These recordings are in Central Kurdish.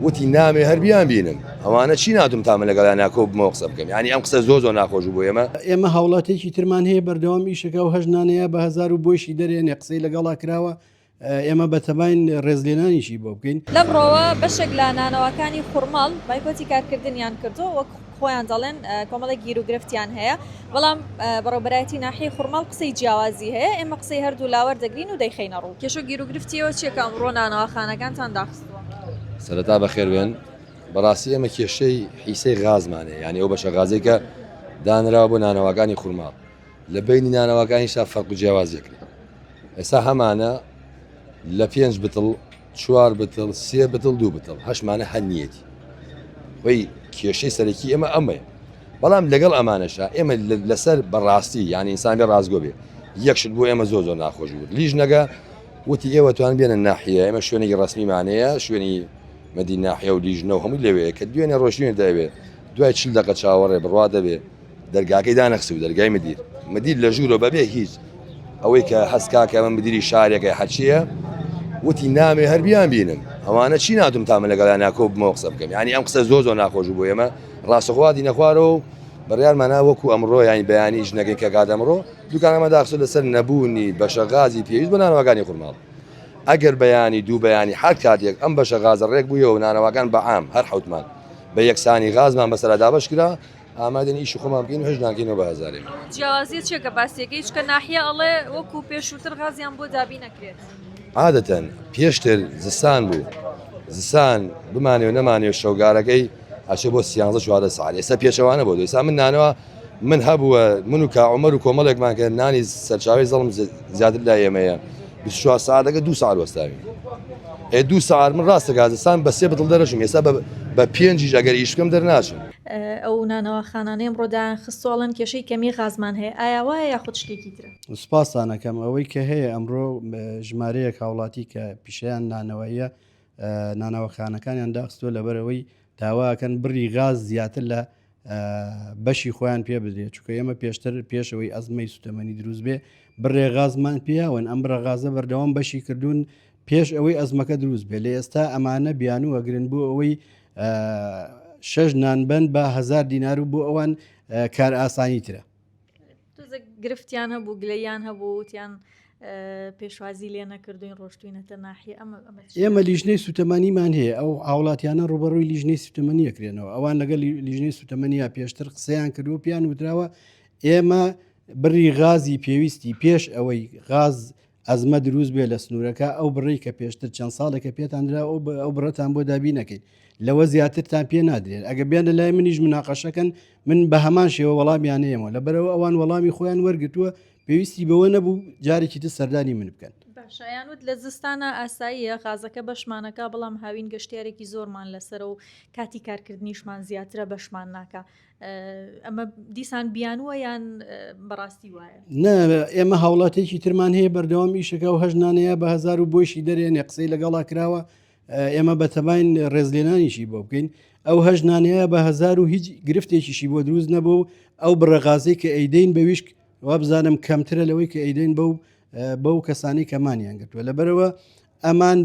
وتی نامەوێ هەر بیانبینم. ئەوانە چی ناتوانم تا من لەگەڵیان ناکۆببمەوە قسە بکەم. یانی ئەم قسە زۆر زۆر ناخۆش بوو بۆ ئێمە. ئێمە هاوڵاتیەکی ترمان هەیە بەردەوام ئیش ئەکا و هەشت نانەیە بە هەزار و بۆیشی دەرێنێ قسەی لەگەڵا کراوە. ئێمە بەتەماین ڕێزلێنانیشی بۆ بکەین. لەمڕۆوە بەشێک لە نانەواکانی خورماڵ بایکۆتی کارکردنیان کردووە وەک. خۆیان دەڵێن کۆمەڵێک گیروگرفتیان هەیە بەڵام بەڕێوبەرایەتی ناحی خورماڵ قسەی جیاوازی هەیە ئێمە قسەی هەردوو لاوەر دەگرین و دەیخینە ڕوو کێشە گیروگرفتیەوە چیەکە ئەمڕۆ نانەواخانەکانتان داخستووە سەرەتا بەخێربێن بەڕاستی ئێمە کێشەی حیسەی غازمانێ یعنی ئەو بەشە غازێکە دانرا بۆ نانەواکانی خورماڵ لە بینی نانەواکانیشا فەرق و جیاوازیەکرێت ئێستا هەمانە لە پێنج بتڵ چوار بتڵ سێ بتڵ دوو بتڵ هەشمانە هەر نیەتی خۆی کێشەی سەرەکی ئێمە ئەمەیە بەڵام لەگەڵ ئەمانەشە ئێمە لەسەر بەڕاستی یان ئینسان بە ڕاستگۆ بێ یەکشت بۆ ئێمە زۆ زۆر ناخۆش بوو لیژ نەگە وتی ئێوە توان بێنە ناحە ئێمە شوێنێکی ڕسمیمانەیە شوێنی مەدی ناحە و لیژنە و هەموو لەوەیە کە دوێنێ ڕۆژێن دەوێت دوای چل دقە چاوەڕێ بڕوا دەبێت دەرگاکەی دانەخست و دەرگای مدیر مدیر لە ژوورۆ بەبێ هیچ ئەوەی کە هەستکاکە من مدیری شارێکە حەچیە وتی نامێ هەر بیان بینم ئەوانە چی ناتم تامە لەگەڵا ناکۆ بمەوە قسە بکەم ینی ئەم قسە زۆر زۆر ناخۆش بۆ ئێمە ڕاستەخواتی نەخوارەوە و بڕیارمانە وەکو ئەمڕۆ یانی بەیانی ژنەکەی کە گادەمڕۆ دوکانەمە داخسە لەسەر نەبوونی بەشە غازی پێویست بە نانەوەگانی قورماڵ ئەگەر بەیانی دوو بەیانی حال کاتێک ئەم بەشە غازە ڕێک بوویەوە نانەوەگان بەعام هەر حوتمان بە یەکسانی غازمان بەسەردا بەشکرا ئامادەنین ئیشی خۆمان بکەین و هەست ناکەینەوە بە ئازارێک. جیاوازیە چیە کە باسی دەکەی چونکە ناحیە ئەڵێ وەکو پێشووتر غازیان بۆ دابین نەکرێت. عادەتەن پێشتر زستان بوو زستان بمانێ و نەمانێ و شەوگارەکەی ئەچێ بۆ سیانزە چوارە سعات ئێستا پێچەوانە بۆ ئێستا من نانەوە من هەبووە من و کاعمەر و کۆمەڵێکمان کە نانی سەرچاوی زەڵم زیاتر لا ئێمەیە چوار ساعتەکە دو ساعت وەستاوی ئێ دو ساعت من ڕاستە گازستان بە سێ بتڵ دەرەشم ئێستا بە پێنجیش ئەگەر ئیشکەم دەرناچم ئەو نانەواخانانەی ئەمڕۆ دایانخستووە ئەڵێن کێشەی کەمی غازمان هەیە، ئایا وایە یاخود شتێکی ترە؟ سوپاستان ئەکەم. ئەوەی کە هەیە ئەمڕۆ ژمارەیەک هاوڵاتی کە پیشەیان نانەواییە نانەوەخانەکانیان داخستووە لەبەرەوەی داواکەن بڕی غاز زیاتر لە بەشی خۆیان پێ بدرێت چکە ئێمە پێشتر پێشەوەی ئەزمەی سوتەمەنی دروست بێ بڕێ غازمان پیاون ئەم بڕە غازە بەردەوام بەشی کردوون پێش ئەوەی ئەزمەکە دروست بێ لە ئێستا ئەمانە بیانووەگرن بۆ ئەوەی شەش نانبەن بە هزار دینار و بۆ ئەوان کار ئاسانی ترە گرفتیان هەبوو گلیان هەبووتیان پێشوازی لێ نەکردوین ڕۆشتوینەتە ناحی ئەمە ئێمە لیژنەی سوتەمەنیمان هەیە ئەو هاوڵاتیانە ڕوبەڕووی لیژنەی سوتەمەنیەکرێنەوە ئەوان لەگەڵ لیژنەی سوتەمەنیە پێشتر قسەیان کردو پیان وتراوە ئێمە بڕی غازی پێویستی پێش ئەوەی غاز ئەزمە دروست بێ لە سنوورەکە ئەو بڕی کە پێشتر چەند ساڵێکە پێتاندرا ئەو بڕەتان بۆ دابی نەکەین لەوە زیاترتان پێ نادرێن ئەگە بێنە لای منیش مناقەشەکەن من بە هەمان شێوە وەڵامیانەیەمەوە لە بەرەوە ئەوان وەڵامی خۆیان وەرگتووە پێویستی بەوە نەبوو جارێکی تر سەردانی من بکەن شایانوت لە زستانە ئاساییە غازەکە بەشمانەکە بەڵام هاوین گەشتارێکی زۆرمان لەسەر و کاتی کارکردنیشمان زیاترە بەشمان ناکە ئەمە دیسان بیانوە یان بەڕاستی وایە نە ئێمە هاوڵاتێکی ترمان هەیە بەردەوام ئیشەکە و هەژنانەیە بە هزار و بۆشی دەرێنێ قسەی لەگەڵا کراوە ئێمە بەتەبین ڕێزلێنانیشی بۆ بکەین ئەو هەژنانەیە بە هزار و هیچ گرفتێکیشی بۆ دروست نەبوو ئەو بڕەغازی کە ئەیدەین بە ویشک وابزانم کەمترە لەوەی کە ئەیدەین بەو بەو کەسانی کەمانیان گرتووە لەبەرەوە ئەمان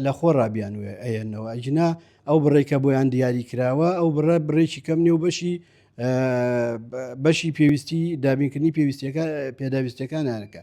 لە خۆڕا بیانوێ ئەیەنەوە، ئەگینا ئەو بڕەی کە بۆیان دیاری کراوە ئەو بڕە بڕێکی کەم نێو بەشی بەشی پێویستی دابینکردنی پێویستیەکە پێداویستەکانیانەکە.